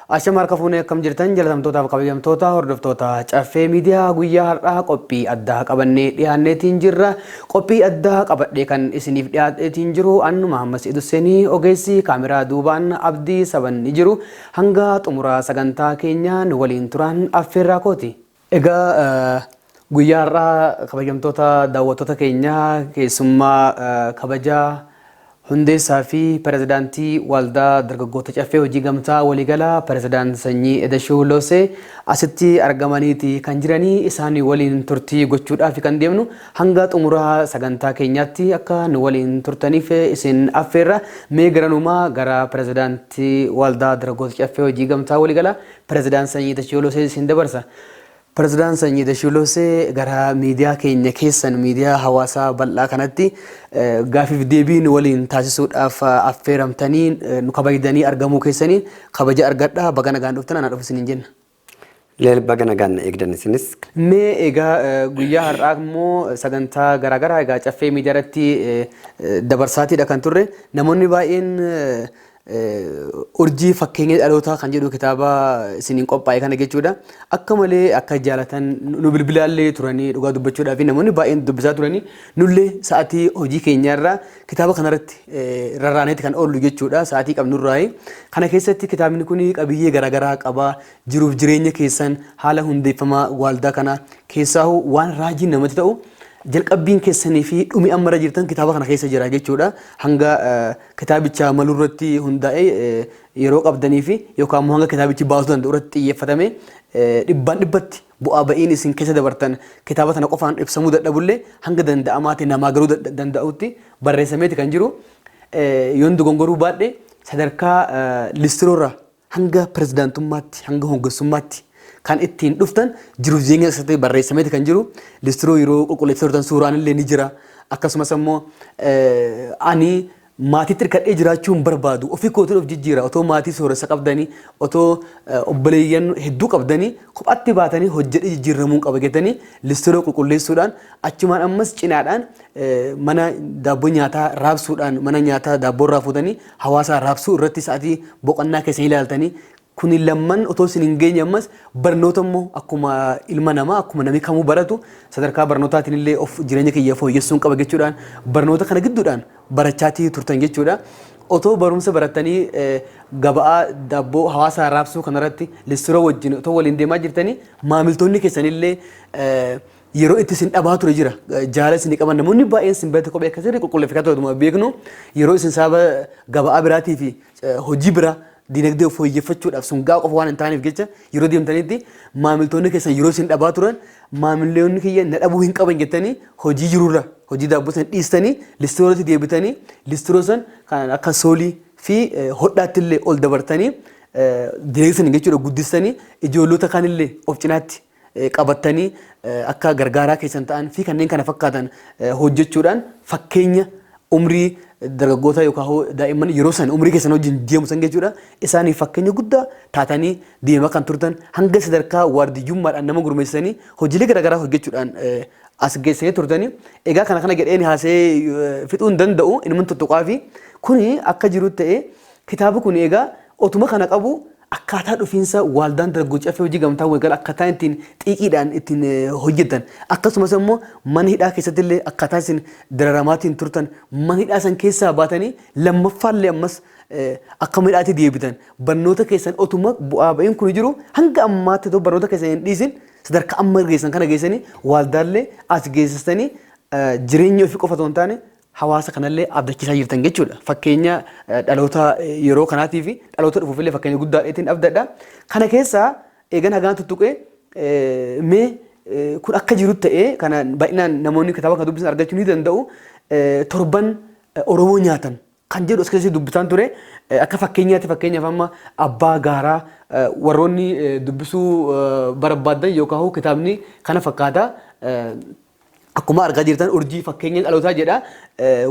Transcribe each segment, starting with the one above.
Ashama harka fuunee akkam jirtan jalatamtootaa fi kabajamtoota hordoftoota caffee miidiyaa guyyaa har'aa qophii addaa qabannee dhiyaanneetiin jirra qophii addaa qabadhee kan isiniif dhiyaadheetiin jiru annu Mahammas Idussenii ogeessi kaameraa duubaan abdii saban ni jiru hanga xumuraa sagantaa keenyaa nu waliin turaan affeerraa kooti. Egaa guyyaa har'aa kabajamtoota daawwattoota keenya keessummaa kabajaa hundeessaa fi pirezidaantii Waldaa Dargaggoota Caffee Hojii Gamtaa Waliigalaa Pirezidaant Sanyii Edashuu Loosee asitti argamaniiti kan jiranii isaanii waliin turtii gochuudhaaf kan deemnu hanga xumuraa sagantaa keenyaatti akka nu waliin turtaniif isin affeerra mee garanumaa gara pirezidaantii Waldaa Dargaggoota Caffee Hojii Gamtaa Waliigalaa Pirezidaant Sanyii Dashiolosee isin dabarsa. Pirezidaant Sanyii Dashiolosee gara miidiyaa keenya keessan miidiyaa hawaasaa bal'aa kanatti gaafiif deebii nu waliin taasisuudhaaf affeeramtanii nu kabajdanii argamuu keessaniin kabaja argadha baga nagaan dhuftan anaa dhufu isiniin jenna. Leel baga nagaan na eegdan isinis. Mee egaa guyyaa har'aa immoo sagantaa garaagaraa egaa caffee miidiyaa irratti dabarsaatiidha kan turre namoonni baay'een Urjii fakkeenya dhalootaa kan jedhu kitaaba isiniin qophaa'e kana jechuudha. Akka malee akka jaalatan nu bilbilaallee turanii dhugaa dubbachuudhaa fi namoonni baay'een dubbisaa turanii nullee sa'aatii hojii keenyaarraa kitaaba kanarratti rarraaneeti kan oollu jechuudha sa'aatii qabnurraayi. Kana keessatti kitaabni kun qabiyyee garaagaraa qaba jiruuf jireenya keessan haala hundeeffamaa waaldaa kana keessaahu waan raajiin namatti ta'u jalqabbiin keessanii fi dhumi ammarra jirtan kitaaba kana keessa jira jechuudha hanga Kitaabicha malurratti hundaa'ee yeroo qabdaniifi yookaan immoo hanga kitaabichi baasuu danda'u irratti xiyyeeffatamee dhibbaan dhibbatti bu'aa ba'iin isin keessa dabartan kitaaba tana qofaan ibsamuu dadhabullee hanga danda'amaati namaa galuu danda'utti barreessameeti kan jiru. Yoon dogongoruu baadhe sadarkaa listiroorra Hanga pirezidaantummaatti, hanga hoggansummaatti kan ittiin dhuftan jiruuf jireenya keessatti barreessameeti kan jiru. Listiroo yeroo qulqulleessaa turtan suuraan illee ni jira. Akkasumas ammoo ani maatiitti hirkadhee jiraachuu hin barbaadu. Ofii kootiin of jijjiira. Otoo maatii sooressa qabdanii, otoo obboleeyyan hedduu qabdanii kophaatti baatanii hojjedhee jijjiirramuun qaba jettanii listiroo qulqulleessuudhaan achumaan ammas cinaadhaan mana daabboo nyaataa raabsuudhaan mana nyaataa daabboo irraa fuutanii Hawaasa arraabsuu irratti sa'atii boqannaa keessan ilaaltanii kuni lamman otoo isin hin geenye ammas barnoota immoo akkuma ilma namaa akkuma namni kamuu baratu sadarkaa barnootaatiin illee of jireenya kiyya fooyyessuun qaba jechuudhaan barnoota kana gidduudhaan barachaatii turtan jechuudha. Otoo barumsa barattanii eh, gaba'aa daabboo hawaasa arraabsuu kanarratti lissiroo wajjin otoo waliin deemaa jirtanii maamiltoonni keessanillee eh, yeroo itti isin dhabaa ture jira jaala isin qaban namoonni baay'een isin bira kophee akka sirrii qulqulleeffatu ta'utuma beeknu yeroo isin saaba gabaa biraatii fi hojii biraa dinagdee of fooyyeffachuudhaaf sun ga'a qofa waan hin taaneef jecha yeroo deemtanitti maamiltoonni keessan yeroo isin dhabaa turan maamiltoonni kiyya na dhabuu hin qaban jettanii hojii jirurra hojii daabboo san dhiistanii listiroorratti deebitanii listiroo san kan akka soolii fi hodhaatti illee ol dabartanii dinagdee san jechuudha guddistanii ijoollota kaanillee of cinaatti qabattanii akka gargaaraa keessan ta'an fi kanneen kana fakkaatan hojjechuudhaan fakkeenya umrii dargaggootaa yookaan hoo daa'imman yeroo san umrii keessan wajjin deemu san jechuudha isaaniif fakkeenya guddaa taatanii deemaa kan turtan hanga sadarkaa waardiyyummaadhaan nama gurmeessanii hojiilee garaagaraa hojjechuudhaan as geessanii turtanii egaa kana kana jedheen haasee fixuu hin danda'u inuma tuttuqaa fi kuni akka jiru ta'ee kitaaba kun egaa otuma kana qabu Akkaataa dhufiinsa waaldaan dargaggoo caffee hojii gamtaa waliigala akkaataa ittiin xiiqiidhaan ittiin hojjettan akkasumas immoo mana hidhaa keessatti illee akkaataa isin dararamaatiin turtan mana hidhaa san keessaa baatanii lammaffaa illee ammas akka mana hidhaatti deebitan barnoota keessan otuma bu'aa ba'iin kun jiru hanga ammaatti otoo barnoota keessan hin dhiisin sadarkaa amma geessan kana geessanii waaldaallee as geessistanii jireenya ofii qofa otoo hin taane hawaasa kanallee abdachiisaa jirtan jechuudha. Fakkeenya dhaloota yeroo kanaatii fi dhaloota dhufuufillee fakkeenya guddaa dheetiin abdadha. Kana keessaa eegan hagaan tuttuqee mee kun akka jiru ta'ee kana baay'inaan namoonni kitaaba kana dubbisan argachuu ni danda'u. Torban Oromoo nyaatan kan jedhu as keessatti dubbisaan ture akka fakkeenyaatti fakkeenyaaf amma abbaa gaaraa warroonni dubbisuu barbaaddan yookaan kitaabni kana fakkaata. Akkuma argaa jirtan urjii fakkeenya dhalootaa jedha.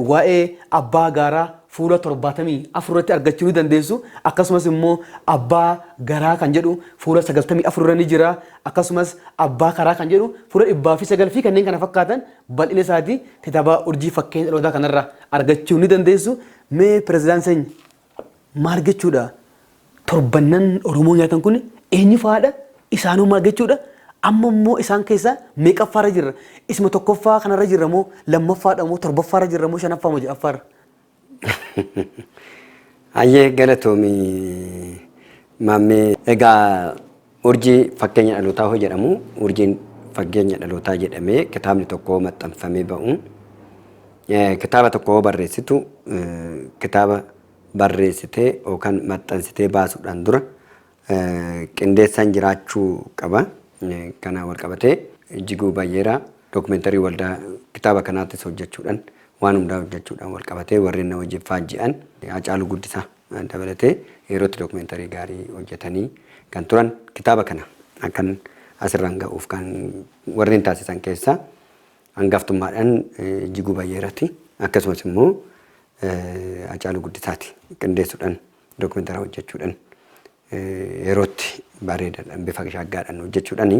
Waa'ee abbaa gaaraa fuula torbaatamii afur irratti argachuu ni dandeessu. Akkasumas immoo abbaa garaa kan jedhu fuula sagaltamii afur irra ni jira. Akkasumas abbaa karaa kan jedhu fuula dhibbaa fi sagal fi kanneen kana fakkaatan bal'ina isaati kitaaba urjii fakkeenya dhalootaa kanarraa argachuu ni dandeessu. Mee pirezidaant Sany Maal jechuudha? Torbannan Oromoo nyaatan kun eenyu fa'aadha? Isaanoo maal jechuudha? Amma immoo isaan keessaa meeqaffaarra jirra? Isuma tokkoffaa kanarra jirra moo lammaffaadha moo torbaffaarra jirra moo shanaffaa moo ja'affaarra? Hayyee galatoomi maammee. Egaa Urjii Fakkeenya Dhalootaa hoo jedhamu urjiin fakkeenya dhalootaa jedhamee kitaabni tokko hoo maxxanfamee ba'u kitaaba tokko hoo barreessitu kitaaba barreessitee yookaan maxxansitee baasuudhaan dura qindeessaan jiraachuu qaba. Kana wal qabatee jiguu bayyeera dookumentarii waldaa kitaaba kanaattis hojjechuudhaan waan hundaa hojjechuudhaan wal qabatee warreen na wajjin faajji'an Hacaaluu Guddisaa. dabalatee yerootti documentary gaarii hojjatanii kan turan kitaaba kana akkan asirraan ga'uuf kan warreen taasisan keessaa hangaftummaadhaan Ijjiguu Bayyeerati akkasumas immoo Hacaaluu Guddisaati qindeessuudhaan documentary hojjachuudhaan yerootti bareedaadhaan bifa shaaggaadhaan hojjechuudhaani.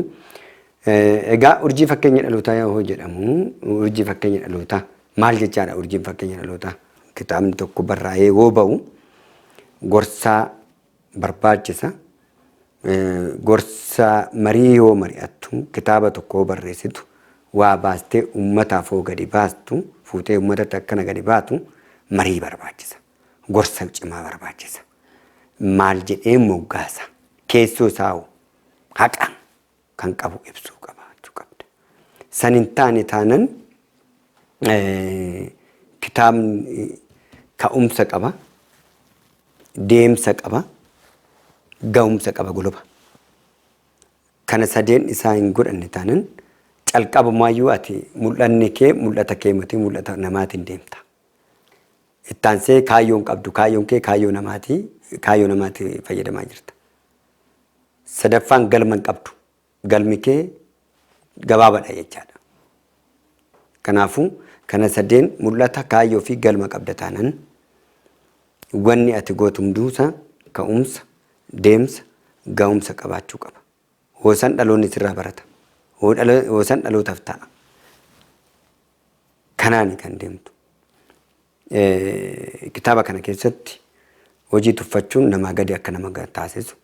Egaa urjii fakkeenya dhalootaa yoo jedhamu urjii fakkeenya dhalootaa maal jechaadha urjiin fakkeenya dhalootaa? Kitaabni tokko barraa'ee yoo ba'u gorsaa barbaachisa. Gorsa marii yoo mari'attu kitaaba tokko yoo barreessitu waa baastee uummataaf yoo gadi baastu fuutee uummatatti akkana gadi baatu marii barbaachisa. Gorsa cimaa barbaachisa. maal jedhee moggaasa? Keessoo isaa hoo haqa kan qabu ibsuu qaba jechuu qabda. San hin taane taanan kitaabni ka'umsa qaba, deemsa qaba, ga'umsa qaba goloba. Kana sadeen isaa hin godhanne taanan calqabumaayyuu ati mul'anni kee mul'ata kee miti mul'ata namaatiin deemta. Itti aansee kaayyoo hin qabdu. Kaayyoon kee kaayyoo namaati. Kaayyoo namaatti fayyadamaa jirta. Sadaffaan galma hin qabdu. Galmi kee gabaabadha jechaadha. Kanaafuu kana sadeen mul'ata kaayyoo fi galma qabda taanan wanni ati gootu hunduusa ka'umsa, deemsa, ga'umsa qabaachuu qaba. Hoosan dhaloonni sirraa barata. Hoosan dhalootaaf ta'a. Kanaani kan deemtu. Kitaaba kana keessatti hojii tuffachuun namaa gadi akka nama taasisu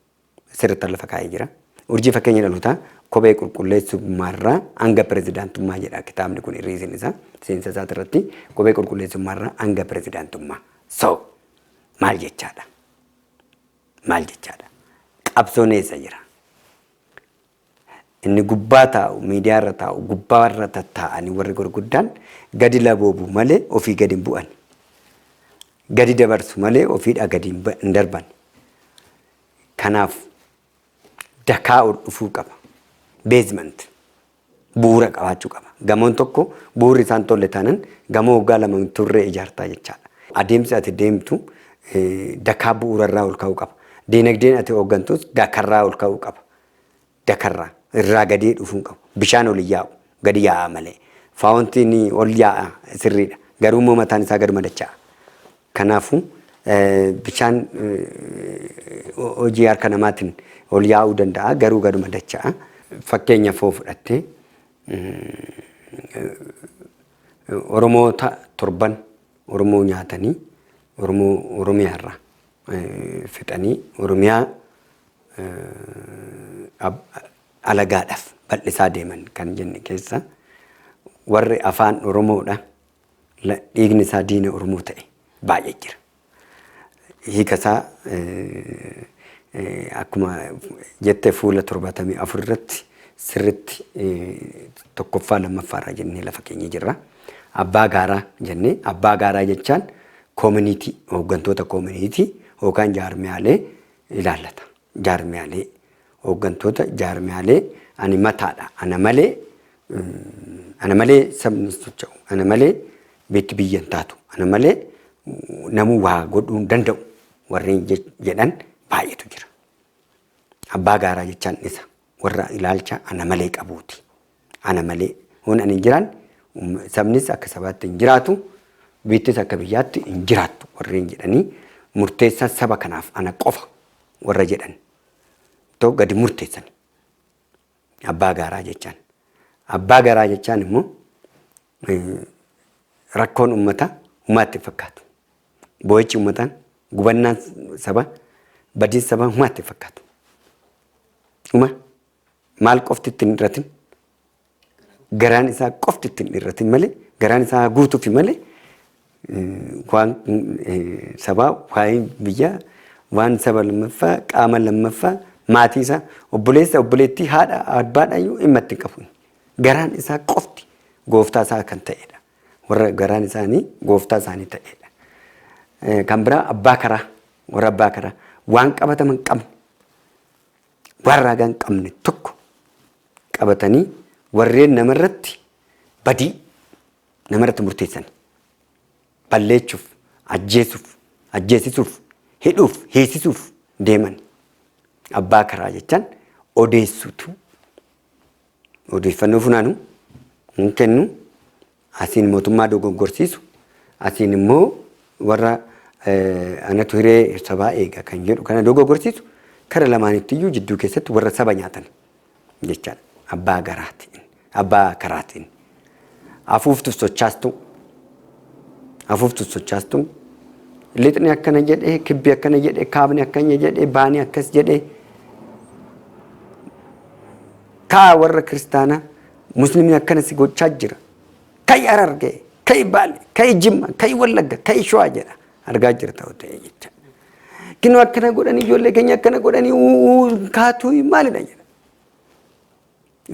sirriitti lafa kaa'ee jira. Urjii fakkeenya dhalootaa kophee qulqulleessummaarraa hanga pirezidaantummaa jedha kitaabni kun irriisin isaa seensa isaati irratti kophee qulqulleessummaarraa hanga pirezidaantummaa. So maal jechaadha? maal jechaadha? Qabsoon eessa jira? Inni gubbaa taa'u, miidiyaa irra taa'u, gubbaa irra tattaa'anii warri gurguddaan gadi laboobu malee ofii gadi hin bu'an. Gadi dabarsu malee ofiidhaa gadi hin ba- hin darban. Kanaaf dakaa ol dhufuu qaba. Beezimant. bu'uura qabaachuu qaba. Gamoon tokko bu'uurri isaan tolle taanan gamoo waggaa lama hin turre ijaartaa jechaadha. Adeemsi ati deemtu dakaa bu'uurarraa ol ka'uu qaba. Diinagdeen ati hooggantus dakarraa ol ka'uu qaba. Dakarraa irraa gadee dhufuu hin qabu. Bishaan ol hin yaa'u gadi yaa'a malee. Faawontiin ol yaa'a sirriidha. Garuu immoo mataan isaa gad madacha'a. Kanaafu, bishaan hojii harka namaatin ol yaa'uu danda'a, garuu gaduma dacha'a. Fakkeenyaf hoo fudhatte, Oromoota torban Oromoo nyaatanii, Oromoo Oromiyaa irraa fixanii, Oromiyaa alagaadhaf bal'isaa deeman kan jenne keessa, warri Afaan Oromoodha la dhiigni isaa diina Oromoo ta'e baay'ee jira. Hiika isaa akkuma jette fuula 74 irratti sirritti tokkoffaa lammaffaa irraa jennee lafa keenya jirra. Abbaa gaaraa jennee abbaa gaaraa jechaan koominiitii hooggantoota koominiitii yookaan jaarmiyaalee ilaallata. Jaarmiyaalee, Hooggantoota jaarmiyaalee ani mataa dha, ana malee ana malee sabni hin socha'u, ana malee biitti biyya hin taatu, ana malee namuu waa godhuu hin danda'u warreen jedhan baay'eetu jira. Abbaa gaaraa jechaan dhisa. warra ilaalcha ana malee qabuuti. Ana malee hoon ani hin jiraan sabnis akka sabaatti hin jiraatu biittis akka biyyaatti hin jiraattu warreen jedhanii murteessan saba kanaaf ana qofa warra jedhan too gadi murteessan abbaa gaaraa jechaan abbaa garaa jechaan immoo rakkoon ummataa humaa itti fakkaatu. Boo'ichi ummataan gubannaan sabaa badiin sabaa humaa itti fakkaatu. Uma maal qofti itti hin dhirratin garaan isaa qofti itti hin dhirratin malee garaan isaa guutuufi malee Kwaan sabaa, kwaayeen biyyaa, waan saba lammaffaa, qaama lammaffaa, maatii isaa, obboleessa, obboleettii, haadha, abbaadhaayyuu dhimma itti hin qabu. Garaan isaa qofti gooftaa isaa kan ta'edha. Warra garaan isaanii gooftaa isaanii ta'edha. Eh, Kan biraa abbaa karaa, warra abbaa karaa, waan qabatama hin qabne, waan raagaa hin qabne tokko qabatanii warreen namarratti badii nama irratti murteessan balleechuuf, ajjeesuuf, ajjeesisuuf, hidhuuf, hiisisuuf deeman abbaa karaa jechaan odeessuutu odeeffannoo funaanu hin kennu asiin mootummaa dogoggorsiisu asiin immoo warra eh, anatu hiree sabaa eega kan jedhu kana dogoggorsiisu kara lamaanitti iyyuu jidduu keessatti warra saba nyaatan jechaadha. Abbaa garaatiin, abbaa karaatiin. Afuuftu sochaastu, afuuftu sochaastu. Lixni akkana jedhee, kibbi akkana jedhee, kaabni akkana jedhee, baani akkas jedhee. Kaa warra kiristaanaa muslimni akkana si gochaa jira. Ka'i harargee, ka'i baale, ka'i jimma, ka'i wallagga, ka'i shawaa jedha. Argaa jirta ta'e jecha. Kinoo akkana godhanii ijoollee keenya akkana godhanii uuu kaatuu maalidha jedha.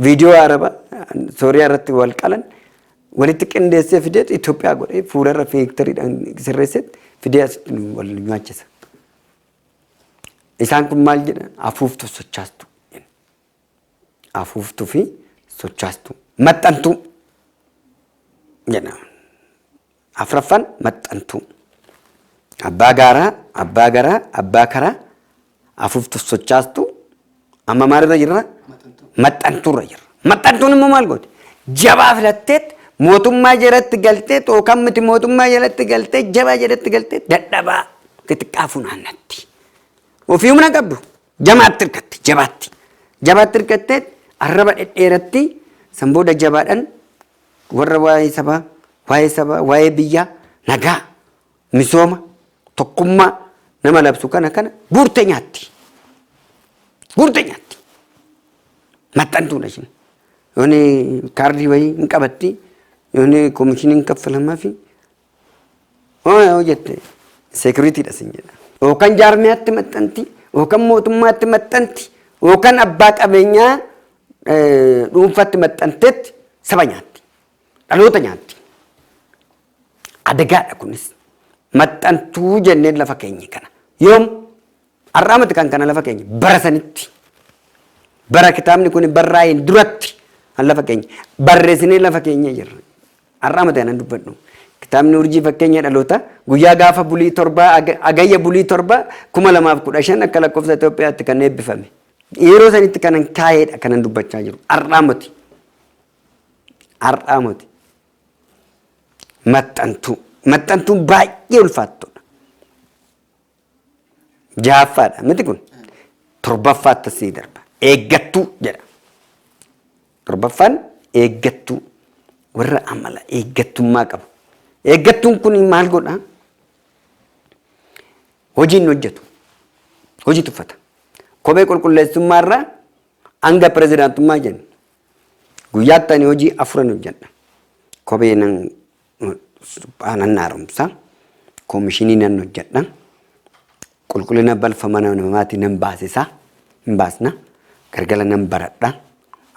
Viidiyoo Araba Sooriyaa irratti wal qalan walitti qindeessee fidee Itoophiyaa godhee fuula irra fiiktariidhaan sirreessee fidee asitti nu wal nyaachisa. Isaan kun maal jedha? Afuuftu sochaastu. Afuuftuu fi sochaastu. Maxxantuu jedhama. Afraffaan maxxantuu. Abbaa gaaraa, abbaa garaa, abbaa karaa, afuuftuuf sochaastu. Amma maalirra jirra? Maxxantuurra jirra. Maxxantuun immoo maal gooti? Jabaa filatteet mootummaa jalatti galtee yookaan miti mootummaa jalatti galtee jabaa jalatti galtee dadhabaa xixiqqaa funaannatti. Ofii humna qabdu jamaatti hirkatti jabaatti. Jabaatti hirkatteet arraba dhedheeratti san booda jabaadhaan Warra waa'ee sabaa, waa'ee sabaa, waa'ee biyyaa, nagaa, misooma, tokkummaa nama labsu kana kana guurte nyaatti. Guurte nyaatti. Maxxantuudha isheen. Yooni kaardii wayii hin qabatti. Yooni komishiniin kaffalamaa fi Hooya yoo jette seekuriitiidha sin jedha. Yookaan jaarmiyaatti maxxanti, yookaan mootummaatti maxxanti, yookaan abbaa qabeenyaa dhuunfaatti maxxanteetti saba nyaatti. Dhaloota nyaatti. Adagaadha kunis. Maxxantuu jennee lafa keenya kana. Yoom Har'aa miti kan kana lafa keenya bara sanitti bara kitaabni kun barraa'een duratti kan lafa keenya barreessinee lafa keenya jirra. Har'aa miti kanan dubbadhu. Kitaabni urjii fakkeenya dhaloota guyyaa gaafa bulii torbaa aga- agayya bulii torbaa kuma lamaaf kudha shan akka lakkoofsa Itoophiyaatti kan eebbifame. Yeroo sanitti kanan kaa'eedha kanan dubbachaa jiru. Har'aa miti. Har'aa miti. Maxxantuu. Maxxantuun baay'ee ulfaattudha. Jahaffaadha miti kun torbaffaatti sii darba. Eeggattuu jedha. Torbaffaan eeggattuu warra amala eeggattummaa qabu. Eeggattuun kun maal godha? Hojiin hojjetu. Hojii tuffata. Kophee qulqulleessummaa irraa hanga pirezidaantummaa jenna. Guyyaatti ani hojii afuran hojjedha. Kophee nan suphaa nan haaromsa, koomishinii nan hojjedha, qulqullina balfa mana namaatii nan baasisa, hin baasna, galgala nan baradha,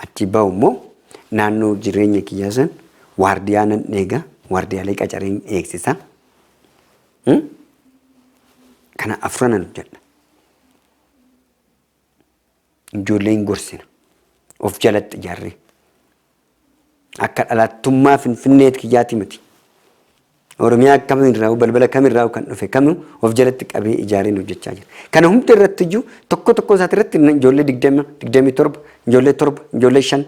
achii bahu immoo naannoo jireenya kiyyaa san waardiyaa nan eega, waardiyaalee qacareen eegsisa. Hmm? Kana afranan hojjedha. Ijoollee hin gorsina. Of jalatti ijaarree. Akka dhalaattummaa Finfinneet kiyyaati miti. Oromiyaa kamirraa balbala kamirraa kan dhufe kamu of jalatti qabee ijaareen hojjechaa jira. Kana hunda irratti iyyuu tokko tokko isaati irratti ijoollee digdama, digdamii torba, ijoollee torba, ijoollee shan,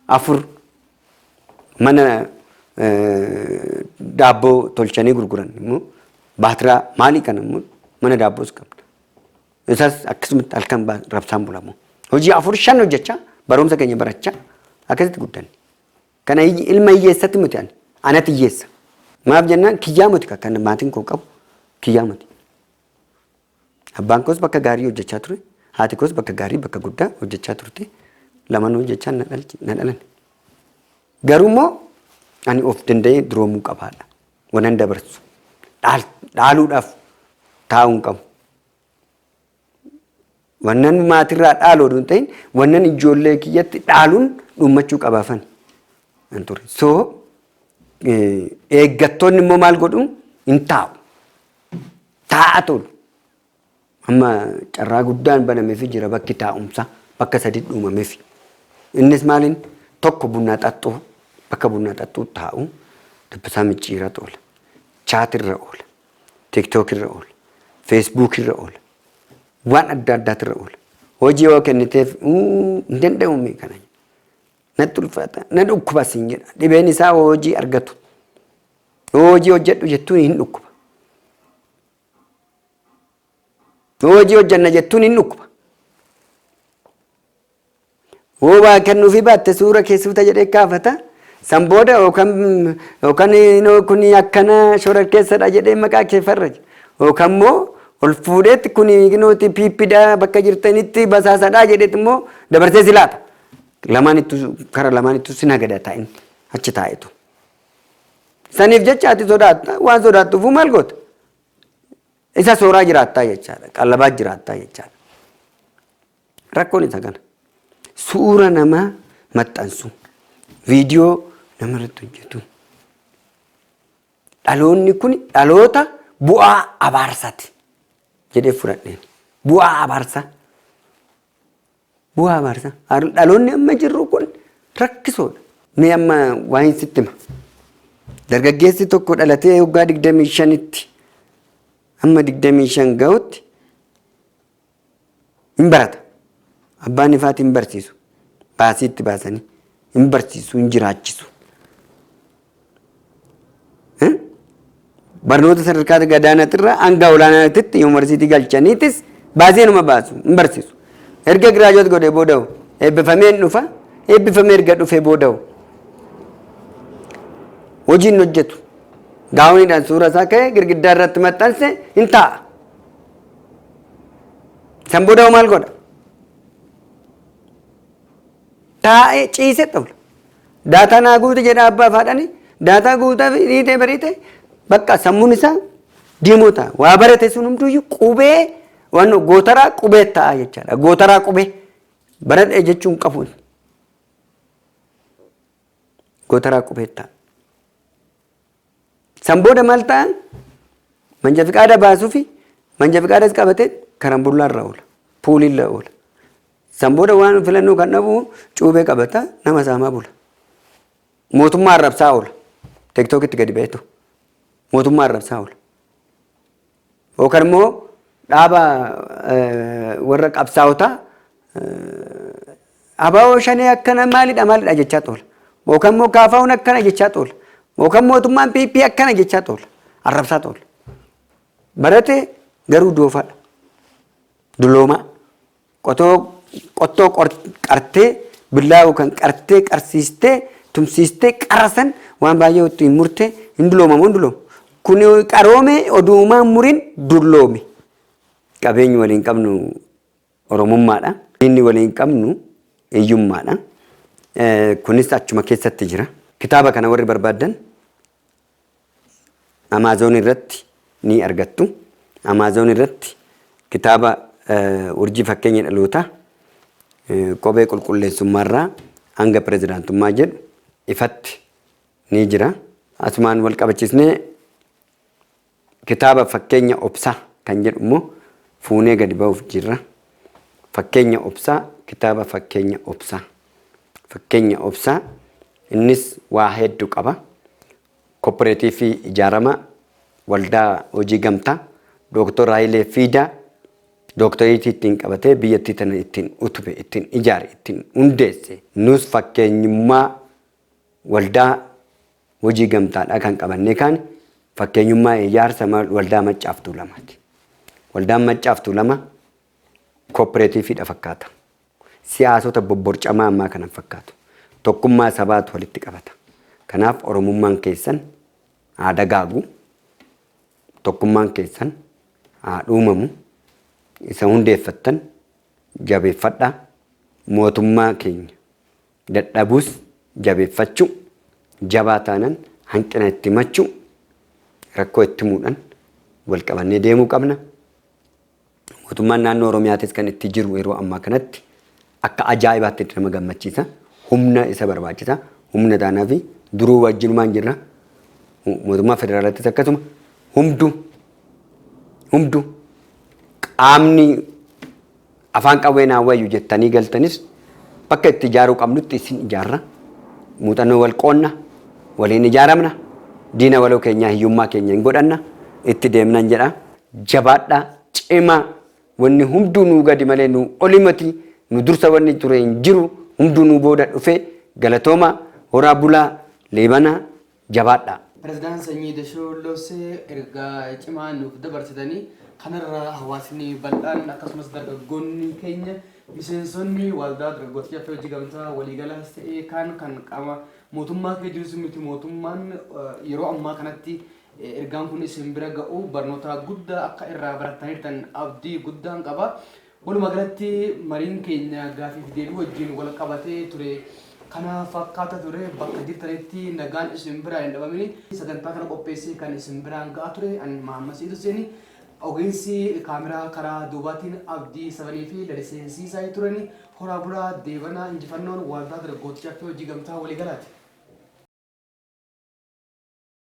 afur mana daabboo tolchanii gurguran immoo baatiraa maalii kana immoo mana daabboos qabna. Isas akkasumatti halkan ba- rabsaan bulamu. Hojii afur shan hojjechaa barumsa keenya barachaa akkasitti guddanne. Kana hiyye- ilma hiyyeessatti miti ani. Anatti hiyyeessa. Maaf jennaan kiyyaa miti kan kan maatiin koo qabu kiyyaa miti. Abbaan koos bakka gaarii hojjechaa ture. Haati koos bakka gaarii bakka guddaa hojjechaa turte. Lamaan hojjechaa na dhalchi- na dhalan. Garuu immoo ani of danda'ee duroomuu qabaadha. Wanan dabarsu. Dhaal- Dhaaluudhaaf taa'uu hin qabu. Wannan maatirraa dhaalu oduu hin ta'in wannan ijoollee kiyyatti dhaaluun dhummachuu qabaafan hin ture. So eeggattoonni immoo maal godhu hin taa'u. Taa'a tolu. Amma carraa guddaan banameefi jira bakki taa'umsaa bakka sadi dhuumameefi. Innis maaliin tokko bunaa xaxxuu bakka bunaa xaxxuu taa'u dabbasaa micciiraa oola. Chaatirra oola. TikTok irra oola. Facebook irra oola. Waan adda addaatu irra oola. Hojii yoo kenniteef "Uu, hin danda'u mee kana. Natti ulfaata. Na dhukkuba siin jedha. Dhibeen isaa hojii argatu. Yoo hojii hojjedhu jettuun hin dhukkuba. Yoo hojii hojjanna jettuun hin dhukkuba. Yoo waa kennuufii baatte suura kee suuta jedhee kaafata. San booda yookaan yookaan inoo kun akkana shororkeessadha jedhee maqaa kee farraja. Yookaan immoo ol fuudheetti kun inooti piippidha bakka jirtanitti basaasadha jedheetti immoo dabarsee si laata. Lamaan ittu kara lamaan ittu si nagada taa'in achi taa'itu. Saniif jecha ati sodaatta waan sodaattuufuu maal goota? Isa sooraa jiraattaa jechaadha. Qallabaa jiraattaa jechaadha. Rakkoon isa kana. Suura namaa maxxansu. Viidiyoo namarratti hojjetu. Dhaloonni kun dhaloota bu'aa abaarsaati jedhee fudhadheen. Bu'aa abaarsaa. Bu'aa abaarsa. Dhaloonni amma jirru kun rakkisoodha. Mee amma waa'een sitti hima. Dargaggeessi tokko dhalatee waggaa digdamii shanitti amma digdamii shan ga'utti hin barata. Abbaan ifaati hin barsiisu. Baasii itti baasanii hin barsiisu hin jiraachisu. Barnoota sadarkaa gadaanaatirraa hanga olaanaatitti yuunivarsiitii galchaniitis baasii numa baasu hin barsiisu. Erga giraajoot godhee booda hoo eebbifamee hin dhufa eebbifamee erga dhufee booda hoo hojii hin hojjetu. Gaawoniidhaan suura isaa ka'ee girgiddaa irratti maxxanse hin taa'a. San booda hoo maal godha? Taa'ee ciisee xumura. Daataa naa guuti jedha abbaa fi haadhani. Daataa guutaa fi dhiitee bariitee bakka sammuun isaa diimoo ta'a. Waa barate sun hunduu qubee waan gootaraa qubee ta'a jechaadha. Gootaraa qubee baradhe jechuun qabuun gootaraa qubee ta'a. San booda maal ta'an manja fiqaada baasuu fi manja fiqaadas qabatee karambullaa irra oola. Puulii irra oola. San booda waan filannoo kan dhabu cuubee qabata nama saamaa bula. Mootummaa arrabsaa oola. Teektookitti gadi ba'etu. Mootummaa arrabsaa oola. Yookaan immoo dhaaba warra qabsaa'otaa abaa'oo shanee akkana maalidha maalidha jechaa xoola. Yookaan immoo kaafaa'uun akkana jechaa xoola. Yookaan mootummaan PP akkana jechaa xoola. Arrabsaa xoola. Barate garuu doofaadha. Duloomaa. Qotoo qottoo qor qartee billaawoo kan qartee qarsiistee tumsiistee qara san waan baay'ee ittiin murte hin dulooma moo hin dulooma? Kun qaroome oduumaa hin murin dulloome. Qabeenyi waliin qabnu Oromummaadha. Diinni waliin qabnu hiyyummaadha. Kunis achuma keessatti jira. Kitaaba kana warri barbaaddan Amaazoon irratti ni argattu. Amaazoon irratti kitaaba urjii fakkeenya dhalootaa qobee qulqulleessummaarraa hanga pirezidaantummaa jedhu ifatti ni jira. Asumaan wal qabachiisnee kitaaba fakkeenya obsaa kan jedhu immoo fuunee gadi ba'uuf jirra. Fakkeenya obsaa kitaaba fakkeenya obsaa. Fakkenya Obsaa innis waa heeddu qaba. Kopperetiifii ijaarama waldaa hojii gamtaa Dooktor Hayilee Fiidaa dooktoreetii ittiin qabatee biyyattii tana ittiin utube, ittiin ijaare, ittiin hundeesse. Nus fakkeenyummaa waldaa hojii gamtaadhaa kan qabannee kaane fakkeenyummaa ijaarsa waldaa Maccaaf Tuulamaati. Waldaan Maccaaf Tuulama kopperetiifiidha fakkaata. Siyaasota bobborcamaa ammaa kana hin fakkaatu. Tokkummaa sabaatu walitti qabata. Kanaaf Oromummaan keessan haa dagaagu, tokkummaan keessan haa dhuumamu, isa hundeeffattan jabeeffadhaa, mootummaa keenya dadhabuus jabeeffachuu, jabaa taanan hanqina itti himachuu, rakkoo itti himuudhan wal qabannee deemuu qabna. Mootummaan naannoo Oromiyaatis kan itti jiru yeroo ammaa kanatti akka ajaa'ibaatti itti nama gammachiisa. Humna isa barbaachisa. Humna taanaa fi duruu wajjinumaan jirra. Mootummaa federaalaattis akkasuma humdu humdu qaamni afaan qawwee naa wayyu jettanii galtanis bakka itti ijaaruu qabnutti isin ijaarra. Muuxannoo wal qoonna, waliin ijaaramna, diina waloo keenyaa hiyyummaa keenya hin godhanna, itti deemnan jedha. Jabaadhaa cimaa wanni hunduu nuu gadi malee nuu oli mati nu dursa wanni ture hin jiru hunduu nuu booda dhufe galatoomaa horaa bulaa leebana jabaadhaa. President Sanyii Dashoo Lossee ergaa cimaa nuuf dabarsitani. Kanarra hawaasni bal'aan akkasumas dargaggoonni keenya miseensonni Waldaa Dargaggoota Caffee Hojii Gamtaa waliigalaas ta'ee kaan kan qaama mootummaa keessa jirus miti mootummaan yeroo ammaa kanatti Ergaan kun isin bira ga'uu barnootaa guddaa akka irraa barattanirtan abdii guddaan qaba. Walumaa galatti mariin keenya gaafii fi deebii wajjin wal qabatee ture kana fakkaata ture. Bakka jirtanitti nagaan isin biraa hin dhabamini. Sagantaa kana qopheessee kan isin biraan ga'aa ture an Mahammad Sa'iid Husseeni. Ogeessi kaameraa karaa duubaatiin Abdii Sabanii fi Lalisee Siisaay turani. Horaa bulaa deebanaa injifannoon Waaldaa Dargaggootti Caffee Hojii Gamtaa Waliigalaati.